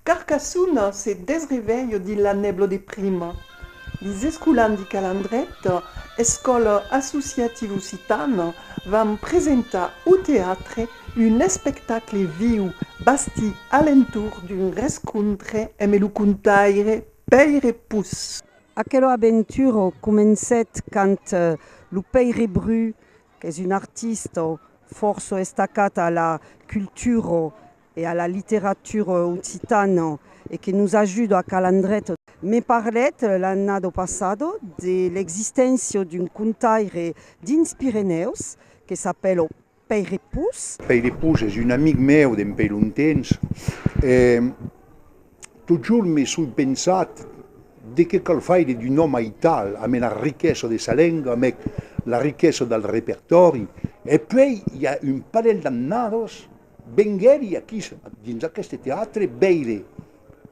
Carcassona se desrevelho dins la nèbla de prima. Lis escolans de Calandret, escòla associativa occitana, van presentar au teatre un espectacle viu bastit a l'entorn d'un rescontre eme lo contaire Pèire Pus. Aquela aventura comencèt quand lo Pèire Bru Qu'es un artista fòrça estacat a la cultura e a la literatura occitana e que nos ajuda a calar ndret. Me parlèt l'annada passada de l'existéncia d'un contaire dins Pirenèus que s'apèla Pèire Pus. Pèire Pus es un amic meu d'empèi longtemps. Totjorn me soi pensat, de qué cal faire d'un òme aital, amé la riquesa de sa lenga, amé la riquesa del repertòri, e puèi i a un parelh d'annadas venguèri aquí dins aqueste teatre veire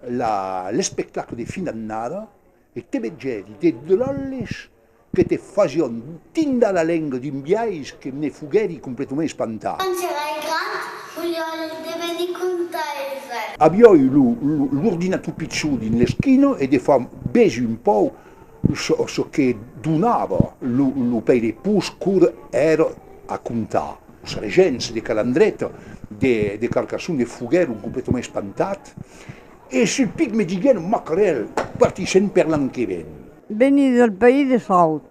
l'espectacle de fin d'annada, E te vegèri de dròlles que te fasión tindar la lenga d'un biais que me foguèri completament espantat. Quand serai grand, volíol devenir contaire. Avioi l'ordinator pichó dins l'esquina e de far bèsi un pau çò que donava lo pèire pus cor èra a comptar. Los regents de Calandreta de Carcassonne foguèron completament espantats E sul pic me diguèron macarèl, partissèm per l'an que ven. Veni del país de Saut,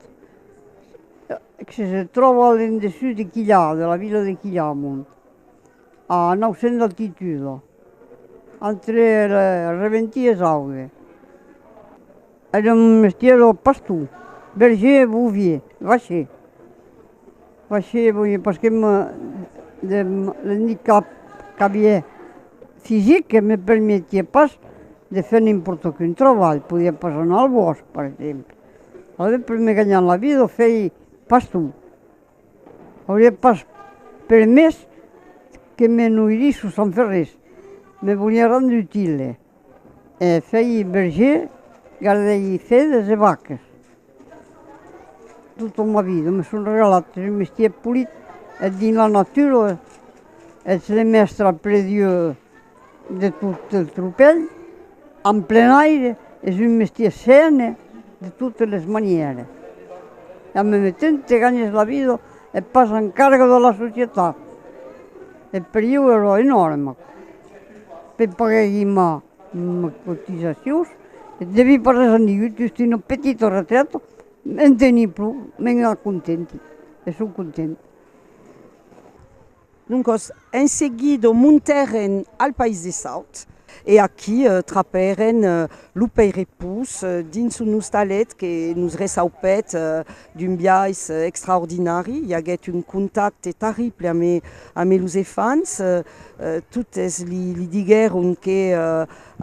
que se tròba a l'endessús de Quilhà, de la vila de Quilhamont, a 900 d'altituda, entre Reventí e Sauve. Ère un mestièr pastor, berger, bovier, vacher. Fachie boni pas que me de l'handicap qu'avié fisic que me permetié pas de fer n'importe quin travalh, podié pas anar al bòsc per exemple, alavetz per me ganhar la vida o fei pas tu, aurié pas permés que me noirís o sans fer res, me volié rendre utile. E fèi berger, gardèi fedas e vacas. Tota ma vida me son regalat un mestièr polit, eth dins la natura, eth de mèstra après Dieu de tot eth tropèl, en plen aire, es un mestièr sène de totes les manières. E en meme temps te ganhes la vida e pas en carga de la societat. E per ieu ero enòrma. per pagar aquí ma, ma cotizacion, devi pas res a ningú, just una petita retrata, en teni pro, me n'ai contenti, e son contenta. Doncas, en seguida montèren al País de Saut, e aquí trapèren lo peirepós dins un ostalet que nos reçaupèt D'un biais extraordinari, i aguèt un contacte tarrible ame los efants, totes li diguèron que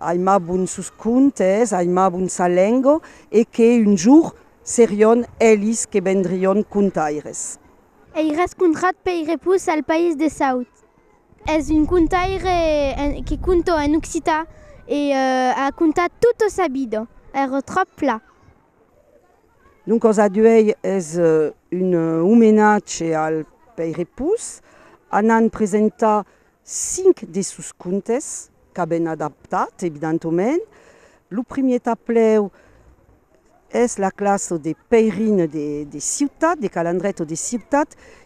aimabon sos contes, aimabon sa lengo e que un jour serion elis que vendrion contaires. Ei rascontrat Pèire Pus al País de Saut. Es un contaire que conto en occitan e a contat tota sa vida. Ère tròp pla. Lo còs a d'uèi es un omenatge al Pèire Pus, anant presentar cinc de sos contes, qu'a ben adaptat evidentoment. Lo primièr taplèu es la classa de Pèirin de Ciutat, de Calandrèt o de Ciutat,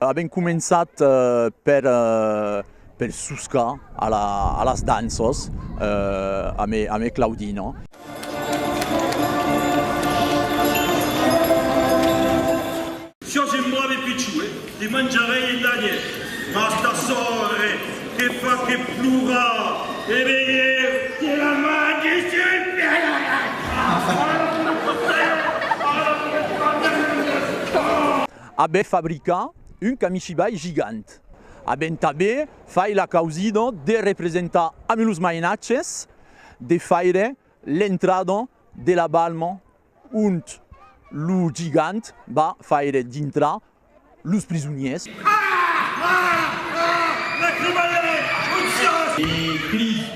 Avèm començat per per soscar a las danças amé Claudina. Sò gen brave pichue, te manjarei e danier, mas ta sorre te fa que plorar e veir que la mangi sul pèl. Abe fabrica un kamishibai gigant. Aben tabe fai la causido de representar amb los mainatges de faire l'entrada de la balma ont lo gigant va faire dintrar los prisoniers. Aah! Aah! Aah! Lacrimale! Aucciòs! E cridi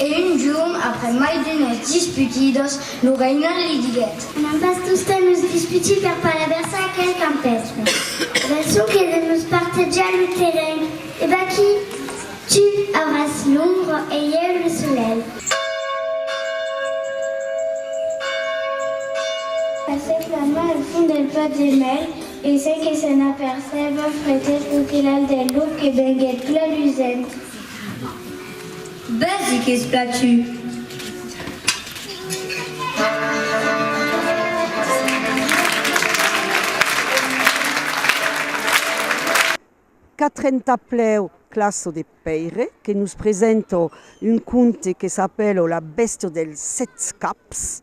E un jorn, après mai d'unes disputidas, lo reinal li diguèt. Anem pas tosta nos disputir per palaversar aquel campèstre. Ven sonque de nos partejar lo terrenh. E vaquí! Tu auràs l'ombra e ieu lo solelh. Passèc la man al fond del plat de mèl e, sen que se n'apercèba, fretèt lo quelal del luc que venguèt plan lusent. Bèsi qu'es platut. Qu'a trenta plèu classo de Pèire que nos presenta un conte que s'apèla La bèstia dels sèt caps.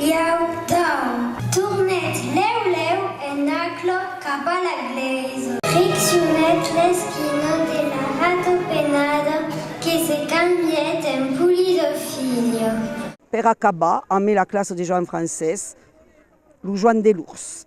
Iau damb. Tornèt lèu lèu en aqulò cap a la glèisa. Friccionèt l'esquina de la ratopenada que se cambièt en pulido filho. Per acabar, amé la classa de Joan Francés, lo Joan de l'Urs.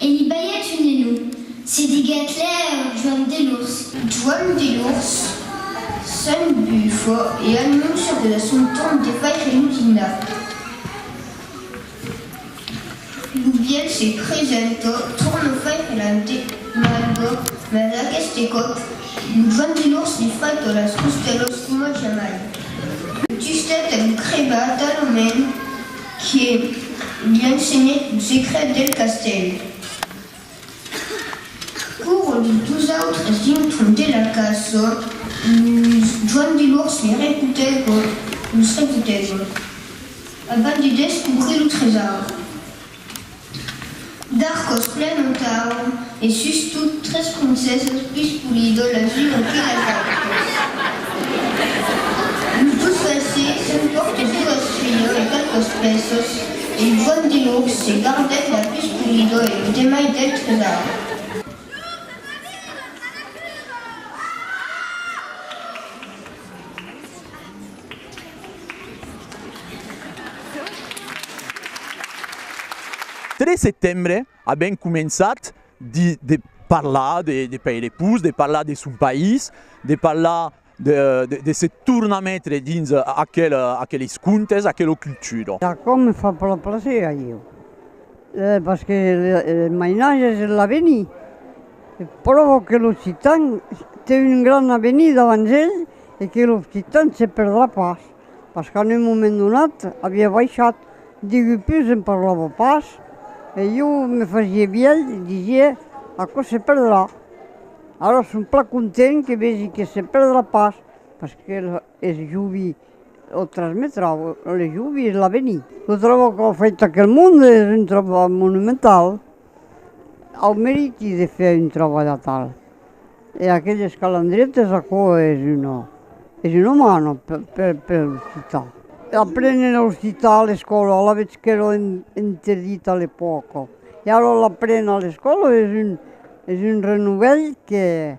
E n'i balhèt un enó. Se diguèt lèur Joan Delors. Joan Delors, se'n bufa e anóncia que la son torn de faire lo dinar. Lo vièlh se presenta, torna faire l'ante malga, mas aqueste còp lo Joan Delors li fraita las costèlas coma jamai. Justèt a lo crebar talament. Que li ensenhèt lo secret del castèl. Quora los dos autres dintron de la casa, los Joan de Lourç li repotègon, los repotègon, abans de descobrir lo tresaur. D'arcos plen un tau, e sustot tres princeses pus polido las unes que las autras. Los dus valsers son pòrtes duas filhos e qualques pèços, e Joan de Nurg se gardèt la pus polido e los demai del tresaur. 3 setembre a ben començat de de parlar de de Pairepus, de parlar de son país, de parlar de de se tornar metre dins aquel aqueles contes, aquela cultura. Aquò me fa plan plaser a ieu. Pas que le mainatge es l'aveni, pròvo que l'occitan te un gran aveni davant el e que l'occitan se perdrà pas, pas qu'en un moment donat avia baishat, digue pus en parlava pas e jo me fasie vièlh e disie aquò se perdrà. Ara son plan content que vegi que se perdrà pas, pas que Es jubi o transmetrau le jubi es l'avenir. Lo trabau qu'a fait aquel monde es un trabau monumental. Au meriti de fer un trabau d'atal. E aqueles calandrietes aquò es una es una mano per per l'occitan. L'aprenen a l'occitan a l'escòla, alavetz qu'èra interdit a l'epòca. E ara l'aprenen a l'escòla es un es un renovèl que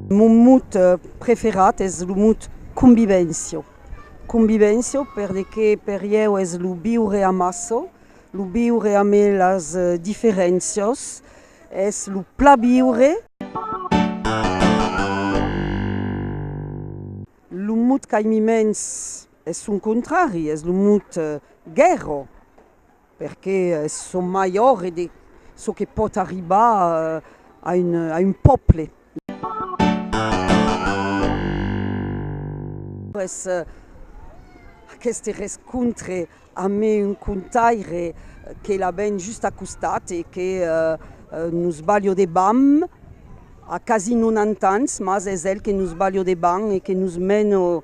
Mon mot preferat es lo mot convivencia. Convivencia perque per ieu es lo viure amassa, lo viure ame las diferencias, es lo pla viure. Lo mot qu'aimi mens es son contrari, es lo mot guèrra. Perqué son mai òrre de çò que pòt arribar a un pòble. Après aqueste rescontre ame un contaire que la ben just a costat e que nos balho de bam, a quasi 90 ans, mas es el que nos balho de bam e que nos meno